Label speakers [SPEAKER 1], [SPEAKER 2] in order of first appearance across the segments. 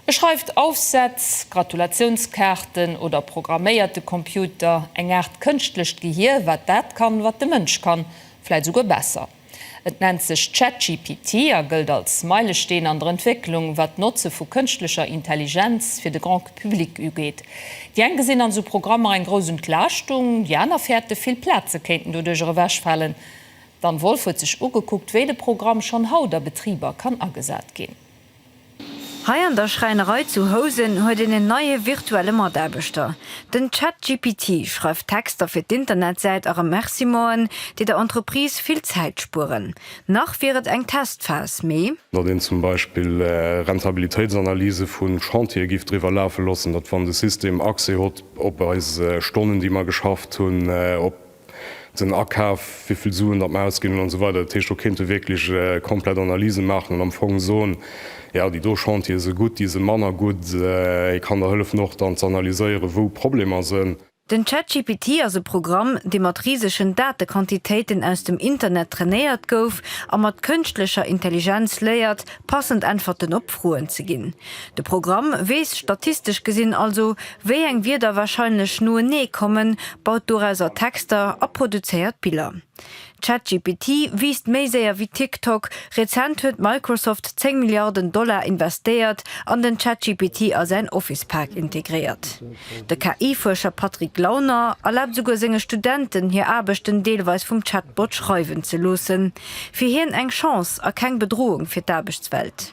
[SPEAKER 1] E schreift Aufsätz, Gratulationskaarten oder programméiert de Computer, eng Aart kënschtlecht Gehier, wat dat kann, wat de Mënsch kann, vläit esouguer besser. Et nennt sech ChatGPT a gëllt als Meilesteen an der Entwécklung, wat d'Notze vu kënschtlecher Intelligenz fir de Grand Public ugeet. Déi eng gesinn an esou Programmer eng grouss Entlaaschtung, déi aner fäerte vill Plaze kéinten doduercher ewechfalen. D'Anne Wolff huet sech ugekuckt, wéi de Programm schonn haut a Betriber kann agesat ginn.
[SPEAKER 2] Hei an der Schräinerei zu Housen huet een en neie virtuelle Mataarbechter. Den ChatGPT schreift Texter fir d'Internetsäit a Remerciementen, déi der Entreprise vill Zäit spueren. Nach wier et eng Testphas, mee. Datt een zum Beispill
[SPEAKER 3] Rentabilitéitsanalysë vu Chantiere giff driwwer lafe loossen, datt wann de System Accès hott op eis Stonnen, déi mer geschafft hunn, op. den Akaf, wéivill Suen datt mer ausginn hunn, an esou weider. Dat heescht, do kéinte wierklech komplett Analyse maachen an am Fong soen, jo, déi do Chantiere si gutt, déi si manner gutt. Et kann der hëllefen och dann z'analyséieren, wou Problemer sinn. Den ChatGPT
[SPEAKER 2] ass e Programm, dee mat risegen Datequantitéiten aus dem Internet trainéiert gouf a mat kënschtlecher Intelligenz léiert, passend Äntwerten op Froen ze ginn. De Programm weess statistesch gesinn also, Wéi eng Wierder warscheinlech noenee kommen, baut dorausser Texter a produzéiert Biller. ChatGPT wiisst méi séier wéi TikTok. Rezent huet Microsoft 10 Milliarden Dollar investéiert an den ChatGPT a säin Office-Park integréiert. De KI-Fuerscher Patrick Launer erlaabt esouguer senge Studenten, hir Aarbechten deelweis vum Chatbot schreiwen ze loossen. Fir hien eng Chance a keng Bedroung fir d'Aarbechtswelt.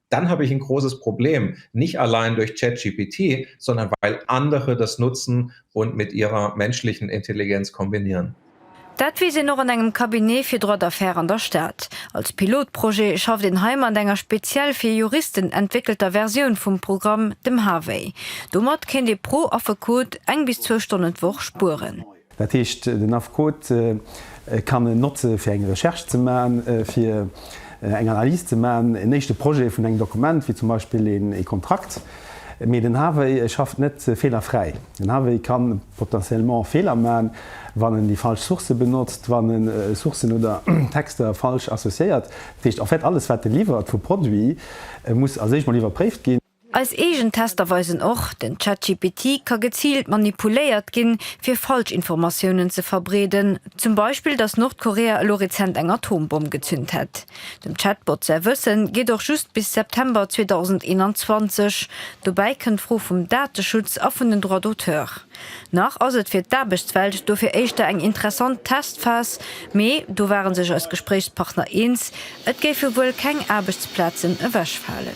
[SPEAKER 4] dann habe ich ein großes Problem, nicht allein durch ChatGPT, sondern weil andere das nutzen und mit ihrer menschlichen Intelligenz kombinieren. Dat weess een
[SPEAKER 2] och an engem Cabinet fir Droit d'affaires an der Stad. Als Pilotprojet schafft een hei mat enger speziell fir Juristen entwéckelter Versioun vum Programm, dem Harvey. Domat kéint ee pro Affekot eng bis zwou Stonnen d'Woch spueren. Dat heescht,
[SPEAKER 5] den Affekot kann en notze fir eng Recherche ze maachen, fir eng Analys ze maachen, en éischte Projet vun engem Dokument, wéi zum Beispill ee Kontrakt. Mee den Harvey schafft net feelerfräi. Den Harvey ka potentiellement Feeler maachen, wann en déi falsch Sourcë benotzt, wann en Sourcen oder Texter falsch associéiert. Dat heescht en fait, alles wat e liwwert vu Produit muss als éischt mol iwwerpréift ginn. Eis eegen Tester
[SPEAKER 2] weisen och, den ChatGPT ka geziilt manipuléiert ginn, fir Falschinformatiounen ze verbreeden, zum Beispill, dass Nordkorea elo rezent eng Atombomm gezünt hätt. Dem Chatbot säi Wëssen geet och just bis September 2021. Dobäi kënnt d'Fro vum Dateschutz a vun den Droits d'auteurs. Nach ass et fir d'Aarbechtswelt dofir éischter eng interessant Testphas, mee do ware sech eis Gespréichspartner eens, et géife wuel keng Aarbechtsplazen ewechfalen.